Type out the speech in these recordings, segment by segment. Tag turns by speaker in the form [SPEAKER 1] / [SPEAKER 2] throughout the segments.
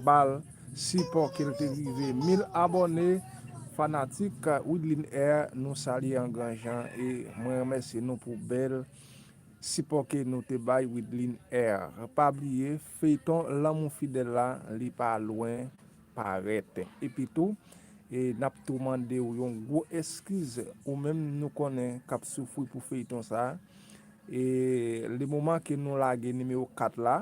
[SPEAKER 1] bal sipò kel te rive mil abòne fanatik widline air nou salye an gran jan e mwen remèsye nou pou bèl sipò ke nou te bay widline air pa bliye feyton lanmou fidèl la li pa lwen parèt epi tou nap tou mandew yon gwo eskiz ou menm nou konnen kap soufri pou feyton sa e le moman ke nou lage nimewo 4 la.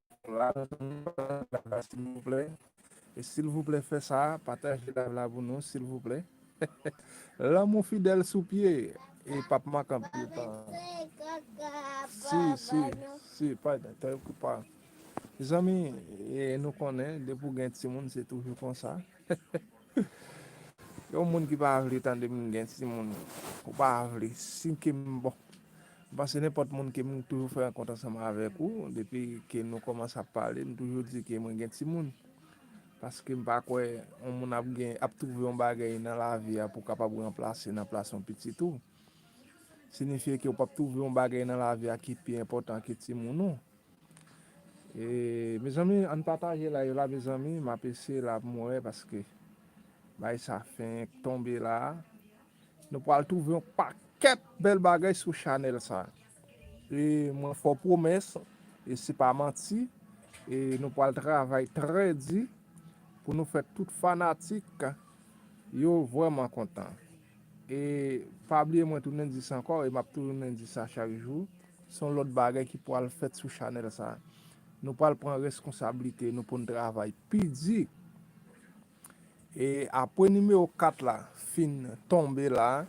[SPEAKER 1] silvouplè e silvouplè fè sa pataje live la pou nou silvouplè lanmou fidèl sou pye e pap mank anpil tan si si si pa de te okupa zanmi e nou konnen depi w gen timoun se toujou konsa Yon moun ki pa vle tande m gen timoun ou pa vle si ke m bon m panse nenpòt moun ke m toujou fè rankont ansanm avèk ou depi ke nou kòmanse ap pale m toujou di ke mwen gen timoun paske m pa kwè yon moun ap gen ap twouve yon bagay nan lavi a pou w kapab ranplase nan plas yon pitit ou sinifye ke ou p ap twouve yon bagay nan lavi a ki pi enpòtan ke timoun ou Mezanmi ann pataje live la mezanmi map eseye la poum wè paske bagay sa fenk tonbe la nou pral twouve yon pakèt bèl bagay sou chanèl sa e mwen fè w pwomès e se pa manti e nou pral travay trè di pou nou fè tout fanatik yo vrèman kontan. E pa bliye mwen tounen di sa ankò e map tounen di sa chak jou, son lòt bagay ki pwal fèt sou chanèl sa. Nou pwal pran reskonsablite nou poun travay pi di. E apwe nimewo 4 la fin tonbe la,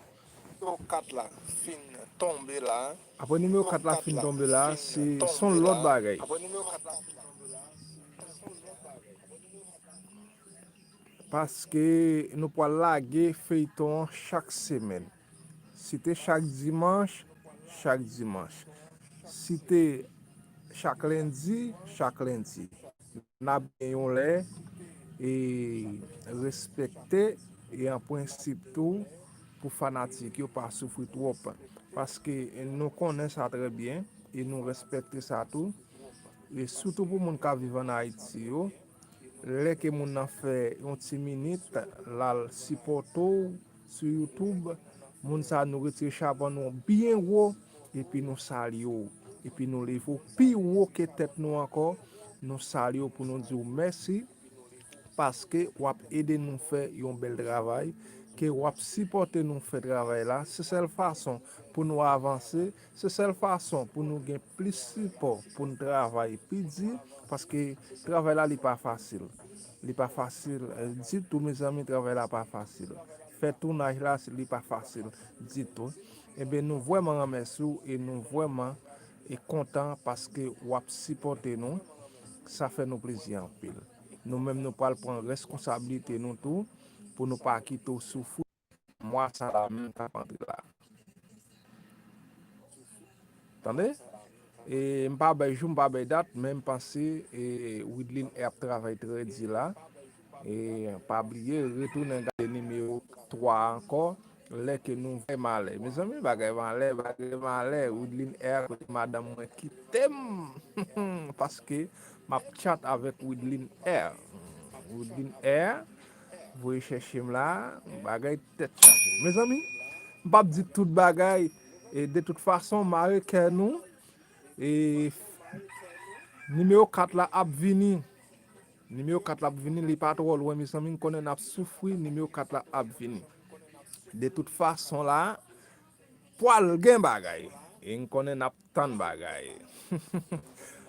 [SPEAKER 1] apwe nimewo 4 la fin tonbe la se son lòt bagay. Paske nou pwal lage feyton an chak semèn. Si te chak dimanch, chak dimanch. Si te chak lendi, chak lendi. Nap gen yon lè e respekte e an prensip tou pou fanatik yo pa soufri twòp. Paske nou konnen sa trè byen e nou respekte sa tou. E sitou pou moun kap viv an Ayiti yo. Lè ke moun nan fè yon ti minit lal sipòte w sou youtube moun sa nou retire chapo nou byen wo epi nou salye w epi nou leve w pi wo ke tèt nou ankò nou salye w pou nou di w mèsi paske wap ede nou fè yon bèl travay ke wap sipòte nou fè travay la se sèl fason pou nou avanse Se sèl fason pou nou gen plis sipò pou n travay pi di paske travay la li pa fasil li pa fasil ditou mezanmi travay la pa fasil fè tounaj la li pa fasil ditou enben nou vrèman renmèsi w e nou vrèman kontan paske w ap sipòte nou sa fè nou plezi anpil nou menm nou pral pran rèskonsabilite nou tou pou nou pa kite w soufri. mwa sa la menm kap antre la tande e m pa bay jou m pa bay dat men m panse e widline e ap travay trè di la e pa bliye retounen gade nimewo 3 a ankò lè ke nou vè malè mezanmi bagay malè bagay malè widline e kote madanm mwen kitem humm paske map chat avèk widline e widline e Voye chèche m la bagay tèt chaje. Mezanmi m pap di tout bagay e de tout fason mare kè nou e nimewo 4 la ap vini. Nimewo 4 la ap vini li pa twò lwen mezanmi m konnen nap soufri nimewo 4 la ap vini. De tout fason la pwal gen bagay e m konnen nap Tann bagay.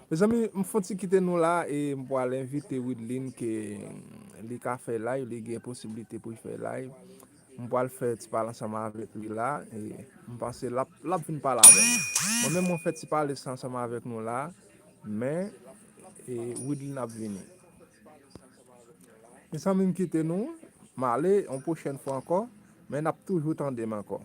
[SPEAKER 1] Mezanmi m fon ti kite nou la e m pwal envite Wideline ke li ka fè live, li gen posibilite pou l fè live. M pwal fè ti pale ansanm avèk li la e m panse l ap l ap vin pale avèk nou. Mwen menm mwen fè ti pale sa ansanm avèk nou la men e Wideline ap vini. Mezanmi m kite nou, m ale yon pwochèn fwa ankò men n ap toujou tande m ankò.